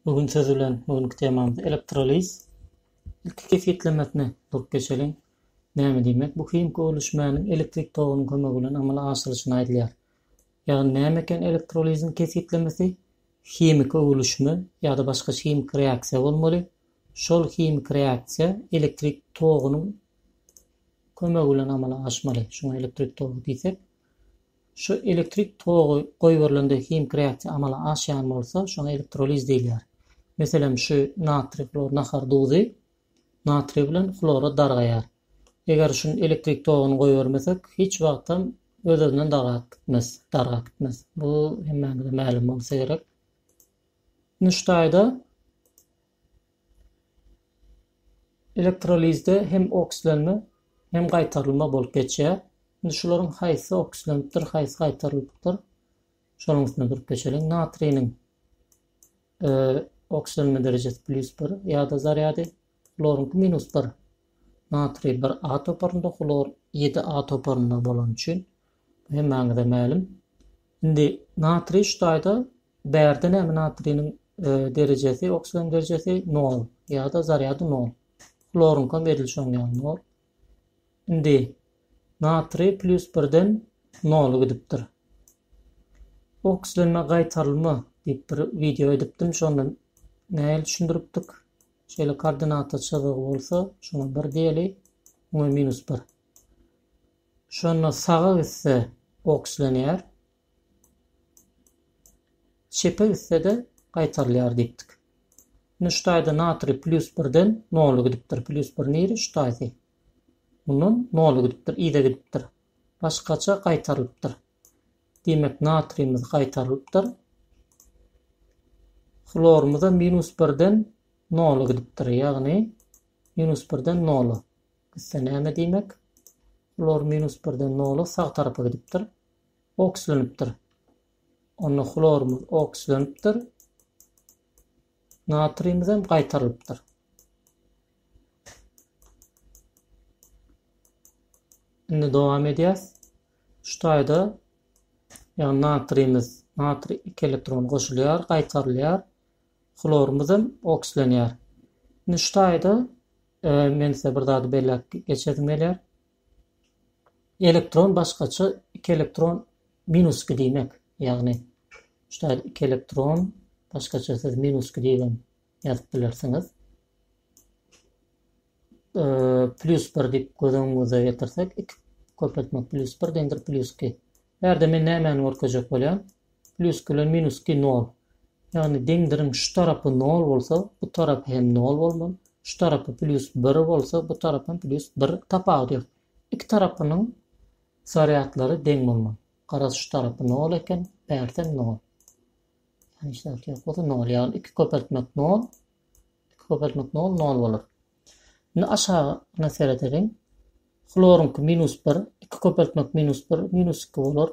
Bu gün söz bilen bu günki temamyz elektroliz. Ilki kesgitlemesine durup geçeliň. Näme diýmek? Bu himiki öwlüşmäniň elektrik togunyň kömegi bilen amala aşyrylyşyny aýdýar. Ýagny näme eken elektroliziň kesgitlemesi? Himiki öwlüşme ýa-da başga himiki reaksiýa bolmaly. Şol himiki reaksiýa elektrik togunyň kömegi bilen amala aşmaly. Şuňa elektrik togy diýsek. Şu elektrik togy goýberilende himiki reaksiýa amala aşýan bolsa, şoňa elektroliz diýilýär. Meselem, şu natriý hlor nahar duzy natriý bilen hlora dargaýar. Eger şuny elektrik toguny goýbermesek, hiç wagtam öz-özünden dargap gitmez, dargap gitmez. Bu hemmämize mälim bolsa gerek. Nuştaýda Elektrolizde hem okslenme, hem gaýtarylma bolup geçýär. Indi şularyň haýsy okslenipdir, haýsy gaýtarylypdyr, şonuň üstünde durup geçeliň. Natriniň e, okslenme derejesi plýus 1 ýa-da zarýady, hloryňky minus 1. Natriý 1A toparynda, hlor 7A toparynda bolany üçin Hemmäňize mälim. Indi natriý şu taýda bärde näme natriýniň derejesi, oksigen derejesi nol ýa-da zarýady nol. Hloryňkam edil şoň ýaly nol. Indi natriý plýus birden nola gidipdir. Oksigenme gaýtarylma diýip bir wideo edipdim, şonda nähili düşündiripdik. Şeýle koordinata çyzygy bolsa, şoňa bir diýeli, oňa minus bir. Şonda saga gitse okslenýär, çepe gitse-de gaýtarylýar diýipdik. Indi şu taýda natriý plýus birden nola gidipdir. Plýus bir niri? Şu taýsy. Mundan nola gidipdir, yza gidipdir. Başgaça gaýtarylypdyr. Diýmek, natriýimiz gaýtarylypdyr. Hlorymyz-a minus birden nola gidipdir, ýagny minus birden nola. Gitse näme diýmek? Hlor minus birden nola sag tarapa gidipdir. Okslenipdir. Onda hlorymyz okslenipdir. Natriýimiz hem gaýtarylypdyr. Indi dowam edýäs. Şu taýda ýagny natriýimiz, natriý 2 elektron goşulýar, gaýtarylýar. Hlorymyz hem okslenýär. Indi şu taýda Men size bir zady belläp geçesim gelýär. Elektron başgaça iki elektron minus iki diýmek. Ýagny şu ýerde iki elektron başgaça siz minus iki diýip hem ýazyp bilersiňiz. E, plus bir diýip göz öňüňize getirsek, iki köpeltmek plus bir deňdir plus iki. Ýerde men nämäni görkezjek bolýan? Plýus bilen minusky nol. Ýagny deňdiriň şu tarapy nol bolsa, bu tarapy hem nol bolmaly. Şu tarapy plýus bir bolsa, bu tarap hem plýus bir. Tapawudy ýok. Iki tarapynyň zarýadlary deň bolmaly. Garaz şu tarapy nol eken, bärsem nol. Ýagny hiç zat ýok bolsa nol. Ýagny iki köpeltmek nol. Iki köpeltmek nol, nol bolar. Indi aşagyna seredeliň. Hloryňky minus bir, iki köpeltmek minus bir, minus iki bolar.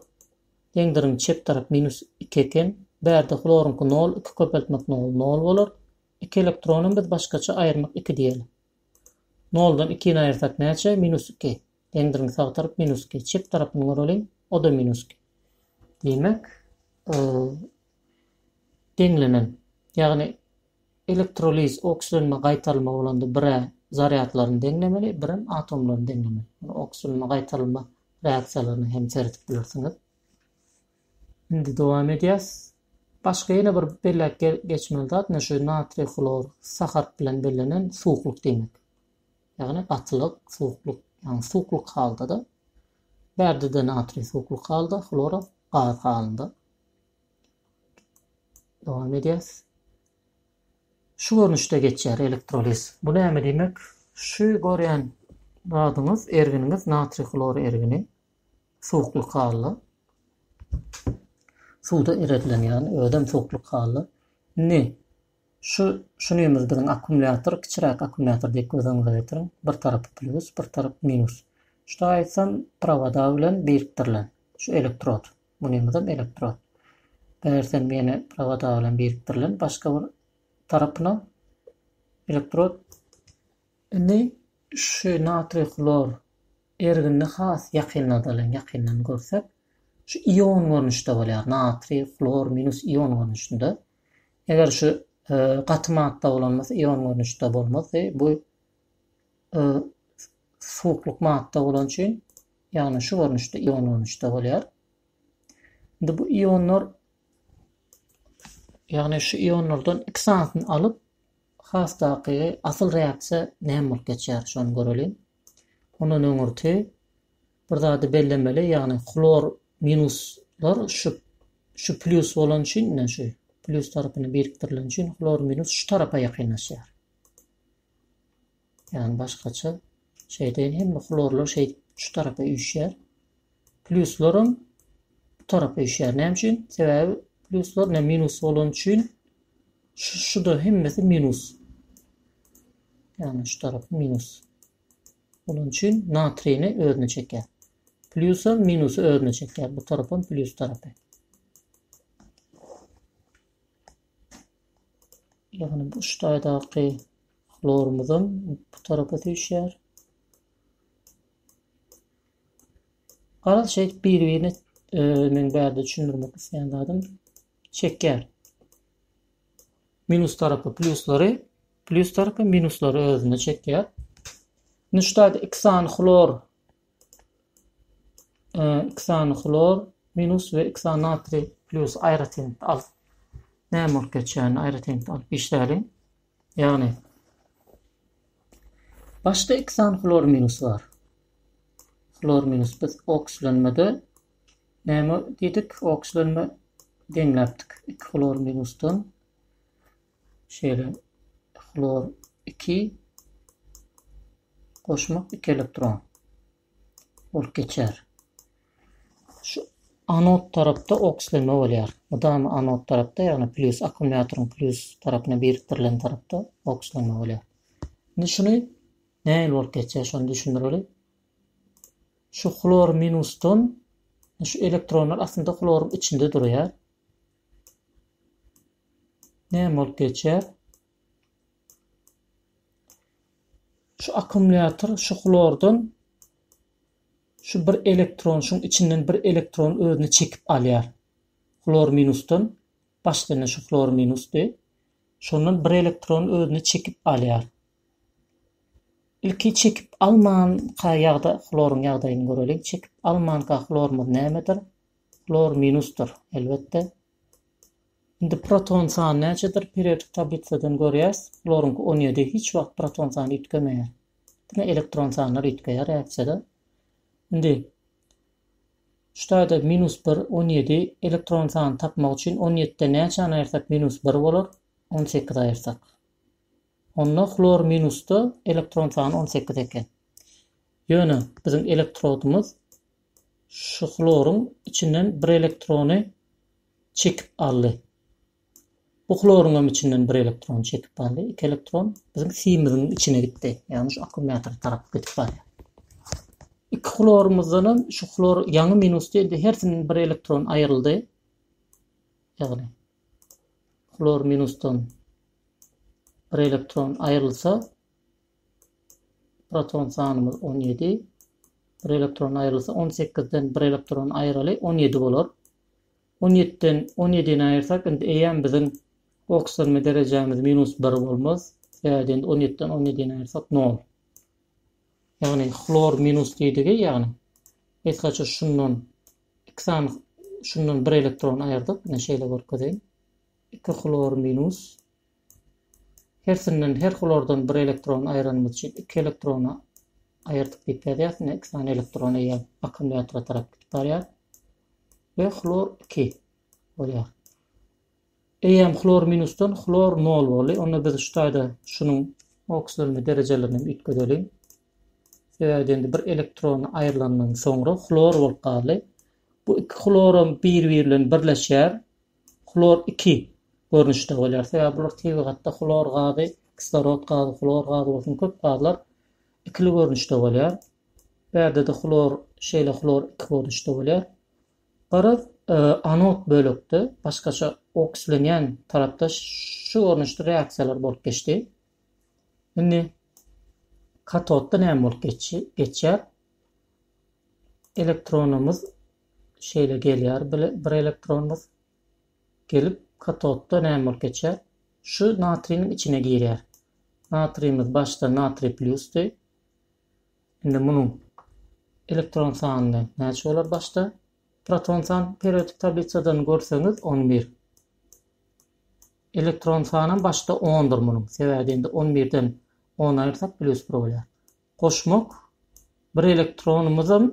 Deňdiriň çep tarapy minus iki eken, bärde hloryňky nol iki köpeltmek nol nol bolar, iki elektronam biz başgaça aýyrmak iki diýeli. Noldan ikini aýyrsak näçe? Minus iki. Deňdiriň sag tarapy minus iki. Çep tarapyny göreliň, o-da minus iki. Diýmek, deňlenen, ýagny Elektroliz, okslenme, gaýtalma bolanda bir-ä zarýadlaryny deňlemeli, birem atomlaryny deňlemeli. Muny okslenme, gaýtalma reaksiýalaryna hem seredip bilersiňiz. Indi dowam edýäs. Başga ýene bir belläp geçmeli zat, ine şu natriý, hlor, sa harp bilen bellenen suwuklyk diýmek. Ýagny gatylyk, suwuklyk, ýagny suwuklyk halda-da. Bärde-de natriý suwuklyk halda, hlora gaz halynda. Dowam edýäs. Şu görnüşde geçýär elektroliz. Bu näme diýmek? Şu görýän zadyňyz, erginiňiz natriý hlor ergini suwuklyk hally suwda eredilýän, ýagny özem suwuklyk hally. Indi şu şunymyz biziň akkumulýator, kiçiräk akkumulýator diýip göz öňüňize getiriň. Bir tarapy plýus, bir tarapy minus. Şu aýtsam prowoda bilen birikdirilen şu elektrod. Bu nemeden elektrod? Eger sen meni prowoda bilen birikdirilen başga bir tarapyna elektrod. Indi şu natriý hlor erginini has ýakynladalyň, ýakyndan görsek. Şu ion görnüşde bolýar, natriý hlor minus ion görnüşinde. Eger şu gaty madda bolan bolsa ion görnüşde bolmazdy. Bu suwuklyk madda bolany üçin, ýagny şu görnüşde ionlanyşda bolýar. Indi bu ionlar ýagny şu ionlardan iki sanysyny alyp, has takygy asyl reaksiýa näme bolup geçýär, şony göreliň. Ondan öňürti bir zady bellemeli, ýagny hlor minuslar şu şu plýus bolan üçin, ine şu plýus tarapyny birikdirilen üçin hlor minus şu tarapa ýakynlaşýar. Ýagny başgaça şeýdeýin hemme hlorlar şeýdip şu tarapa üýşýär. Pluslarym bu tarapa üýşýär. Näme üçin? Sebäbi pluslar ne minus bolan üçin şu şuda hemmesi minus. Ýagny şu tarap minus. Onuň üçin natrini özüne çekýär. Plusam minusy özüne çekýär. Bu tarapam plus tarapy. Ýagny bu ştaýdaky Hlorumyzam bu tarapa süýşýär. Garaz şeýdip biri-birine men bärde düşündirmek isleýän zadym çekýär. Minus tarapy plusleri, plus tarapy minusleri özüne çekýär. Indi şu taýda iki sany hlor iki sany hlor minus we iki sany natriý plus aýratyn alyp näme bolup geçýärini aýratyn alyp işläliň. Ýagny başda iki sany hlor minusy bar. Hlor minus biz okslenmede näme diýdik? Okslenme deňläpdik. Iki hlor minusdan şeýle hlor 2 goşmak 2 elektron. bolup geçýär. Şu anod tarapda okslenme bolýar. Mydama anod tarapda, ýagny plýus akkumulýatoryň plýus tarapyna birikdirilen tarapda okslenme bolýar. Indi şuny nähili bolup geçýär, şony düşündireli. Şu hlor minusdan şu elektronlar aslynda hloryň içinde durýar. Näme bolup geçýär? Şu akkumulýator şu hlordan şu bir elektron şuň içinden bir elektron özüne çekip alýar. Hlor minusdan başdan şu hlor minusdy. Şondan bir elektron özüne çekip alýar. Ilki çekip almanka ýagda hloryň ýagdaýyny göreliň. Çekip almanka hlorymyz nämedir? Hlor minusdyr, elbetde. Indi proton sany näçedir periodik tablisadan görýäs. Hloryňky on ýedi, hiç wagt proton sany üýtgemeýär. Diňe elektron sanlar üýtgeýär äkjede. Indi şu taýda minus bir, on ýedi elektron sany tapmak üçin on ýetiden näçäni aýyrsak minus bir bolar? On sekiz aýyrsak. Onda hlor minusda elektron sany on sekiz eken. Ýöne biziň elektrodymyz Şu hloryň içinden bir elektrony çekip aldy. Bu hloryňam içinden bir elektron çekip aldy. Iki elektron biziň simiziň içine gitdi. Ýagny şu akkumulýator tarap gidip barýar. Iki hlorymyzdan hem şu hlor ýaňy minus diýdi. Hersinden bir elektron aýryldy. Ýagny hlor minusdan bir elektron aýrylsa, Proton sanymyz on ýedi. Bir elektron aýrylsa, on sekizden bir elektron aýraly on ýedi bolar. On ýetiden on ýedini aýyrsak, indi eýýäm biziň okislenme derejämiz minus bir bolmaz. Sebäbi indi on ýetiden on ýedini aýyrsak nol. Ýagny hlor minus diýdigi, ýagny biz haçan şundan iki sany şundan bir elektron aýyrdyk. Ine şeýle görkezeýin. Iki hlor minus Hersinden her hulardan bir elektron aýranymyz üçin iki elektrony aýyrdyk diýip ýazýas. Ine iki sany elektron eýýäm akkumulýatora tarap gidip barýar. We hlor 2 bolýar. Eýýäm hlor minusdan hlor 0 boldy. Onda biz şu taýda şunuň okislenme derejelerini hem üýtgedeliň. Sebäbi indi bir elektron aýrylandan soňra hlor bolup galdy. Bu iki hloram biri-biri bilen birleşýär. Hlor iki görnüşde bolýar. Sebäbi bular tebigatda hlor gazy, kislorod gazy, hlor gazy bolsun köp gazlar ikili görnüşde bolýar. Bärde-de hlor şeýle hlor iki görnüşde bolýar. Garaz, e, anod bölekde, başgaça okslenýän tarapda şu görnüşde reaksiýalar bolup geçdi. Indi katodda näme bolup geçýär? Elektronymyz Şeýle gelýär bir elektron bus. Gelip katodda näme bolup geçýär? Şu natriniň içine girýär. Natrimiz başda natriý plusdy. Indi munuň elektron sany näçe bolar başda? Proton san periodik tablisadan görseňiz on bir. Elektron sanam başda ondur munuň. Sebäbi indi on birden on aýyrsak plus bir bolýar. Goşmak bir elektronymyzam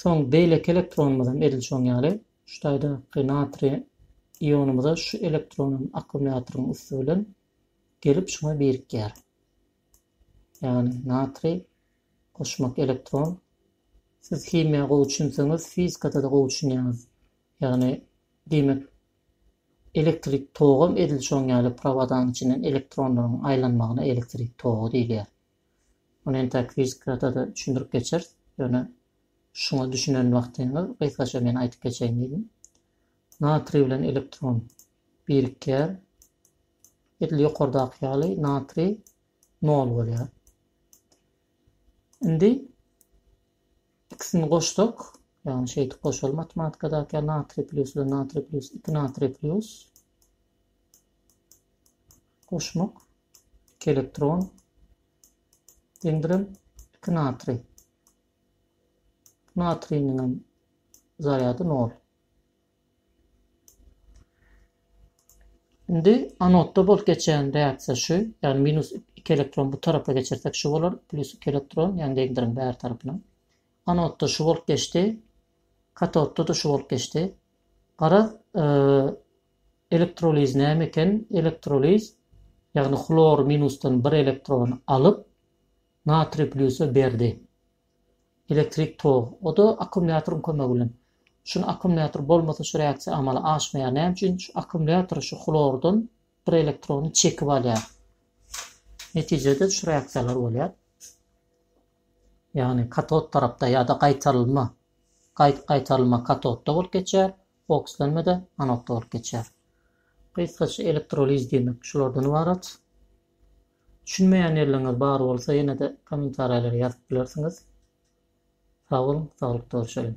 Soň beýleki elektronymyzam edil şoň ýaly şu taýdaky natriý ionymyza şu elektronam akkumulýatoryň üsti bilen gelip şuňa birikýär. Ýagny natriý goşmak elektron. Siz himiýa gowy düşünseňiz fizikada-da gowy düşünýäňiz. Ýagny diýmek elektrik togam edil şoň ýaly prowadanyň içinden elektronlaryň aýlanmagyna elektrik togy diýilýär. Muny entäk fizikada-da düşündirip geçeris. Ýöne şuňa düşünen wagtyňyz gysgaça men aýdyp geçeýin diýdim. Natriý bilen elektron birikýär. Edil ýokardaky ýaly natriý nol bolýar. Indi ikisini goşsak, ýagny şeýdip goşaly matematikadaky ýaly natriý plýus bilen natriý plýus, iki natriý plýus goşmak Elektron deňdirem iki natriý. Natriýniňem zarýady nol. Indi anodda bolup geçýän reaksiýa şu, ýagny minus iki elektron bu tarapa geçirsek şu bolar, plus iki elektron, ýagny deňdiriň bäri tarapyna. Anodda şu bolup geçdi, katodda-da şu bolup geçdi. Garaz, e, Elektroliz näme eken? Elektroliz, ýagny hlor minusdan bir elektron alyp, natriý plýusa berdi. Elektrik tog, o-da akkumulýatoryň kömegi bilen. Şuny akkumulýator bolmasa şu reaksiýa amala aşmaýar. Näme üçin? Şu akkumulýator şu hlordan bir elektrony çekip alýar. Netijede şu reaksiýalar bolýar. Ýagny katod tarapda ýa-da gaýtarylma, gaýt gaýtarylma katodda bolup geçýär. Okslenme-de anodda bolup geçýär. Gysgaça elektroliz diýmek şulardan ybarat. Düşünmeýän ýerleriňiz bar bolsa ýene-de kommentariýalara ýazyp bilersiňiz. Sag boluň, saglykda görşeliň!